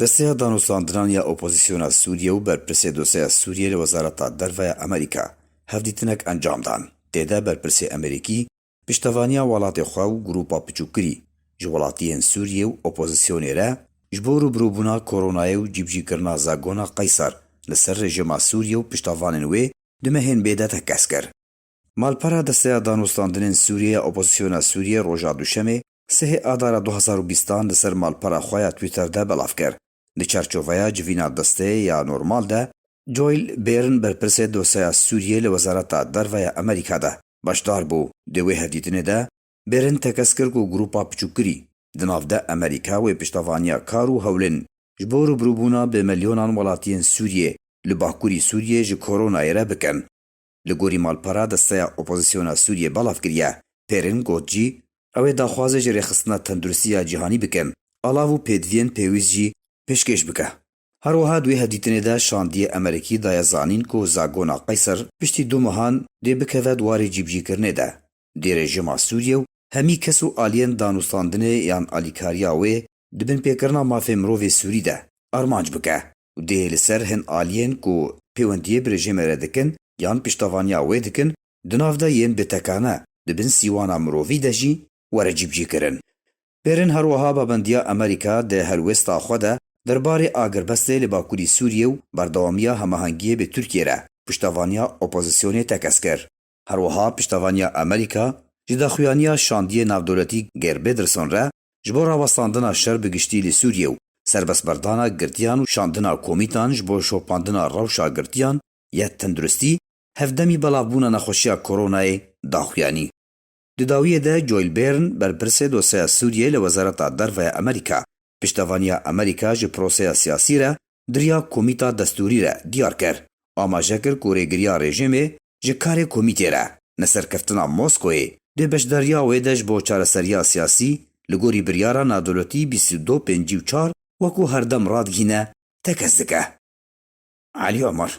Desteya Danûstandinan ya Opozîsyona Sûriyê û Berpirsê Dosyaya Sûriyê li Wezareta Derve ya Amerîka hevdîtinek encam dan. Tê de berpirsê Amerîkî piştevaniya welatê xwe û grûpa piçûkirî ji welatiyên Sûriyê û opozîsyonê re ji bo rûbirûbûna koronayê û cîbicîkirina zagona qeyser li ser rejîma Sûriyê û piştavanên wê du mehên bê de tekez kir. Malpera Desteya Danûstandinên Sûriyê ya Opozisyona Sûriyê roja Duşemê sihê Adara du hezar û bîst an li ser malpera xwe ya Twitter de belav kir. Di çarçoveya civîna desteyê ya normal de, Joel Bêrn berpirsê dosyeya Sûriyê li Wezareta Derve ya Amerîka de beşdar bû. Di wê hevdîtinê de Bêrn tekez kir ku grûpa piçûkgirî di nav de Amerîka wê piştevaniya kar û hewlên ji bo rûbirûbûna bi milyonan welatiyên Sûriyê li bakurî Sûriyê ji koronayê re bikin. li gorî malpera desteya opozîsyona Sûriyê belav kiriye. Pêrin got jî, Ew ê daxwazê ji Rêxistina Tenduristiya Cîhanî bikin, alav û pêdiviyên pêwîst jî pêşkêş bike. Her wiha di wê hevdîtinê de şandiyê Emerîkî daye zanîn ku zagona Qeyser piştî du mehan dê bikeve di warê cîbicîkirinê de dê rejîma Sûriyê û hemî kes û aliyên danûstandinê yan alîkariya wê di binpêkirina mafê mirovê Sûrî de armanc bike. û dê li ser hin aliyên ku pêwendiyê bi rejîmê re dikin yan piştevaniya wê dikin di nav de yên bêtekane di bin sîwana mirovî de jî were cîbicîkirin. Bêrên her wiha babendiya Amerîka di helwêsta xwe de der barê agirbestê li Bakurî Sûriyê û berdewamiya hemahengiyê bi Tirkiyê re piştevaniya opozisyonê tekez kir. Her wiha piştevaniya Amerîka ji daxuyaniya şandiyê navdewletî Geir Pederson re ji bo rawestandina şer bi giştî li Sûriyê û serbestberdana girtiyan û şandina komîtan ji bo şopandina rewşa girtiyan ya tenduristî hevdemî belavbûna nexweşiya koronayê daxuyanî. Di dawiyê de Joel Byrne, berpirsê dosyeya Sûriyeyê li Wezareta Derve ya Amerîka, piştevaniya Amerîka ji proseya siyasî re duriya komîta destûrî re diyar kir. Amaje kir ku rêgiriya rejîmê ji karê komîtê re, ne serkeftina Moskoyê, dê beşdariya wê de ji bo çareseriya siyasî li gorî biryara nadewletî bîst û du pêncî û çar wekû herdem radigihîne tekez dike. Elî Omar.